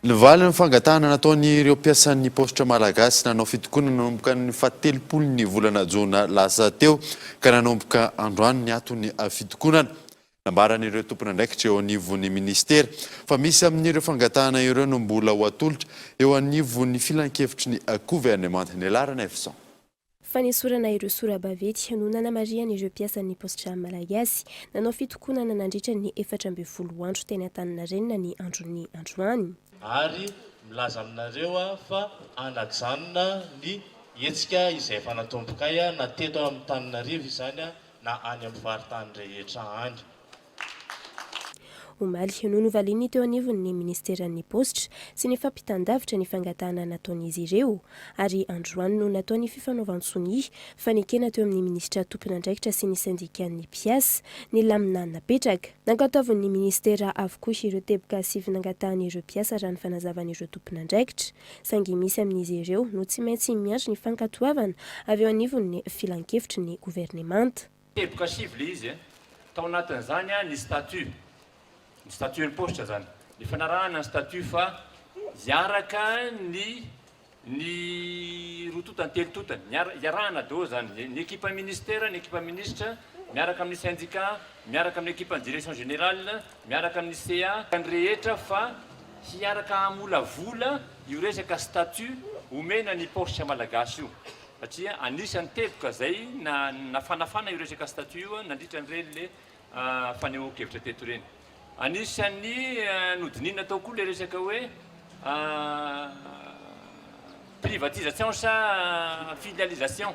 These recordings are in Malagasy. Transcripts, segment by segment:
Ny valin'ny fangatahana nataon'ireo mpiasan'ny paositra malagasy nanao fitokonana nanomboka ny fahatelopolon'ny volana jona lasa teo ka nanomboka androany ny aton'ny fitokonana. Nambaran'ireo tompon'andraikitra eo anivon'ny minisitera fa misy amin'ireo fangatahana ireo no mbola ho atolotra eo anivon'ny filankevitry ny governemanta. Ny laharan'ny Fison. Fanesorana ireo sora-baventy no nanamarihan'ireo mpiasan'ny Postjam Malagasy. Nanao fitokonana nandritra ny efatra ambin'ny folo andro teny Antaninarenina ny andron'ny androany. ary milaza aminareo aho fa hanajanona ny hetsika izay efa natombokay na teto amin'Antananarivo izany na any amin'ny faritany rehetra any. Omaly, no novalian'ny teo anivon'ny minisiteran'ny paositra sy ny fampitan-davitra ny fangatahana nataon'izy ireo, ary androany no natao ny fifanaovan-tsonia fa nekena teo amin'ny minisitra tompon'andraikitra sy ny sendikan'ny mpiasa ny lamina napetraka. Nankantaovin'ny minisitera avokoa ireo teboka sivy nangatahan'ireo mpiasa raha ny fanazavan'ireo tompon'andraikitra, saingy misy amin'izy ireo no tsy maintsy miandry ny fankatoavana avy eo anivon'ny filankevitry ny governemanta. Teboka sivy ilay izy e. Tao anatin'izany ny statut, ny statut impost izany, ny fanarahana ny statut fa hiaraka ny ny roa totany, telo totany, hiara- hiarahana daholo izany, ny ekipa ministera, ny ekipa minisitra, miaraka amin'ny sendika, miaraka amin'ny ekipan'ny direction générale, miaraka amin'ny CA, ny rehetra fa hiaraka hamolavola io resaka statut omena ny paositra malagasy io. satria anisan'ny teboka izay nafanafana io resaka statut io nandritra an'ireny le fanehoan-kevitra teto ireny. Anisan'ny nodinihina tao koa le resaka hoe privatisation sa filialisation.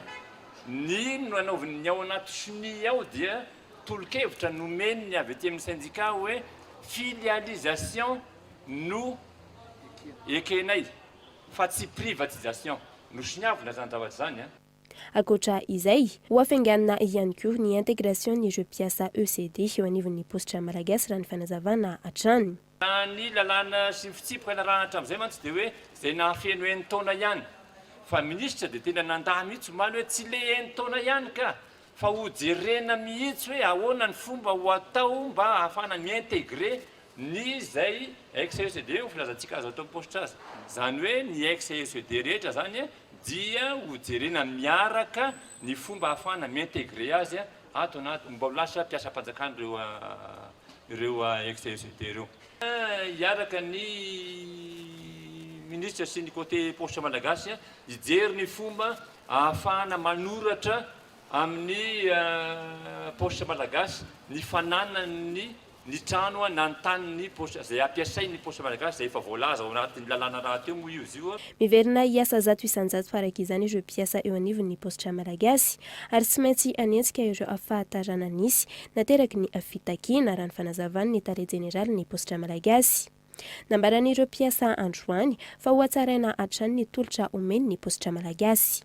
Ny nanaovin' ny ao anaty cni ao dia tolo-kevitra nomen'ny avy aty amin'ny syndicat hoe filialisation no ekenay. fa tsy privatisation no soniavina zany zavatra zany a. Ankoatra izay, ho afainganina ihany koa ny intégration n'ireo mpiasa ECD eo anivon'ny paositra Malagasy raha ny fanazavana hatrany. Raha ny lalàna sy ny fitsipika narahana hatramin'izay mantsy dia hoe izay nahafeno enin-taona ihany. Fa minisitra dia tena nandà mihitsy omaly hoe tsy le enin-taona ihany ka! fa ho jerena mihitsy hoe ahoana ny fomba ho atao mba ahafahana mi-intégrer ny izay ex-CECD ho filazantsika azo atao am-paositra azy. Izany hoe ny ex-CECD rehetra izany dia ho jerena miaraka ny fomba ahafahana mi-intégrer azy ato anaty, mba ho lasa mpiasam-panjakana ireo ireo ex-CECD ireo. Hiaraka ny Minisitra sy ny Côté Paositra Malagasy hijery ny fomba Ahafahana manoratra amin'ny paositra malagasy ny fananany ny trano na ny taniny paositra izay ampiasainy ny paositra malagasy izay efa voalaza ao anatin'ny lalàna rahateo moa io izy io. Miverina hiasa zato isan-jato araka izany ireo mpiasa eo anivon'ny paositra malagasy ary tsy maintsy hanenjika ireo fahatarana nisy nateraky ny fitakiana, raha ny fanazavan'ny tale jeneralin'ny paositra malagasy. Nambaran'ireo mpiasa androany fa hohatsaraina hatrany ny tolotra omeny ny paositra malagasy.